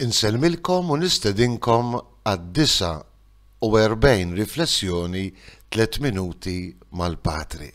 Insellmilkom u nistedinkom għad-49 Riflessjoni Tliet Minuti mal-Patri.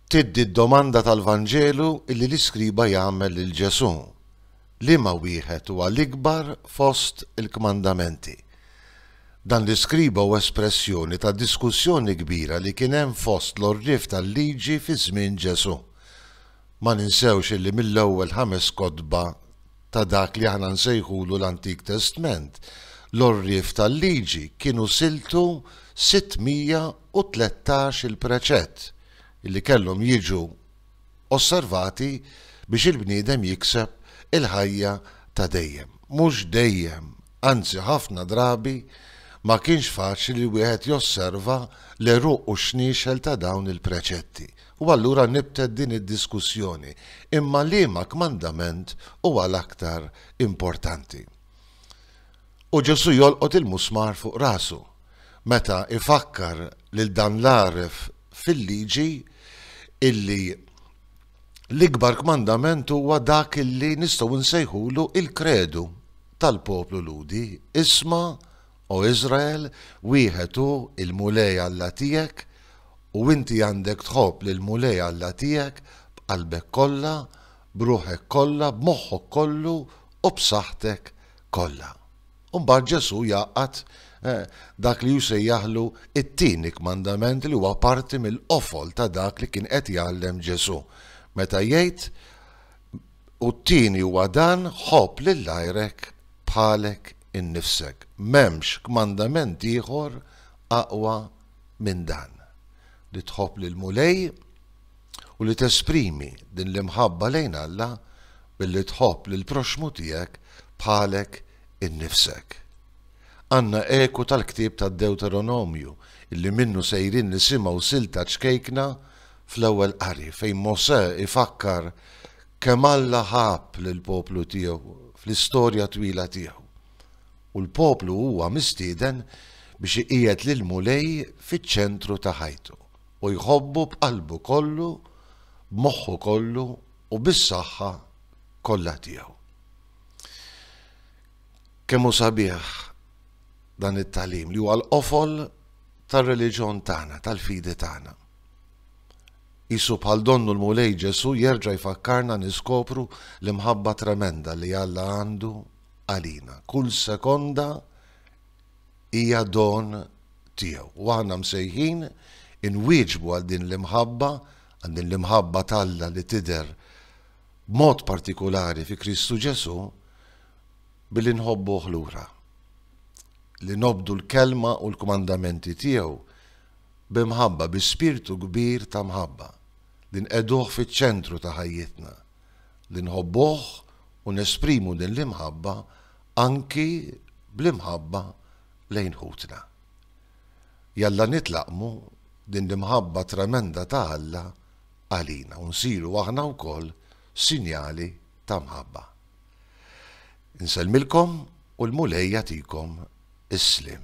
Tiddi d-domanda tal-Vanġelu li l-iskriba jagħmel lil Ġesù, Liema wieħed huwa l-ikbar fost il-kmandamenti? Dan l-iskriba hu espressjoni tad-diskussjoni kbira li kien hemm fost l-għorrief tal-Liġi fi żmien Ġesù. Ma ninsewx illi mill-ewwel ħames kotba ta' dak li aħna nsejħulu l-Antik Testment, l-għorrief tal-Liġi kienu siltu 613-il preċett illi kellhom jiġu osservati biex il-bniedem jikseb il-ħajja ta' dejjem. Mhux dejjem! anzi ħafna drabi ma kienx faċli li wieħed josserva l-għeruq u x-xniexel ta' dawn il-preċetti. U allura nibtet din id-diskussjoni, imma liema kmandament huwa l-aktar importanti? U Ġesù jolqot il-musmar fuq rasu, meta ifakkar lil dan l-għaref fil-liġi illi L-ikbar kmandament huwa dak li nistgħu nsejħulu l-kredu tal-poplu Lhudi, Isma', o Iżrael, wieħed hu l-Mulej Alla tiegħek, u inti għandek tħobb lill-Mulej Alla tiegħek b'qalbek kollha, b'ruħek kollha, b'moħħok kollu u b'saħħtek kollha. U mbagħad Ġesù jgħaqqad dak li hu sejjaħlu t-tieni kmandament li huwa parti mill-qofol ta' dak li kien qed jgħallem Ġesù meta jgħid, U t-tieni huwa dan, ħobb lil għajrek bħalek innifsek. M'hemmx kmandament ieħor aqwa minn dan, li tħobb lill-Mulej, u li tesprimi din l-imħabba lejn Alla billi tħobb lill-proxxmu tiegħek bħalek innifsek. Għandna eku tal-ktieb tad-Dewteronomju li minnu sejrin nisimgħu silta ċkejkna fl-ewwel qari fejn Mosè ifakkar kemm Alla ħabb lill-poplu tiegħu fl-istorja twila tiegħu, u l-poplu huwa mistieden biex iqiegħed lill-Mulej fiċ-ċentru ta' ħajtu. u jħobbu b'qalbu kollu, b'moħħu kollu u bis-saħħa kollha tiegħu. Kemm hu sabiħ dan it-tagħlim li huwa l-qofol tar-reliġjon tagħna, tal-fidi tagħna. Isu bħal donnu l-Mulej Ġesu jerġa' jfakkarna niskopru l-imħabba tremenda li Alla għandu għalina. Kull sekonda hija don tiegħu. U aħna msejħin inwieġbu għal din l-imħabba, għal din l-imħabba t'Alla li tidher b'mod partikulari fi Kristu Ġesù billi nħobbuh lura. Li nobdu l-kelma u l-kmandamenti tiegħu b'imħabba, bi spirtu kbir ta' mħabba, li nqeduh fiċ-ċentru ta' ħajjitna. li nħobbuh u nesprimu din l-imħabba anki bl-imħabba lejn ħutna. Jalla nitlaqqmu din l-imħabba tremenda ta' Alla għalina u nsiru aħna wkoll sinjali ta' mħabba. Insellmilkom u l-Mulej jagħtikom is-sliem.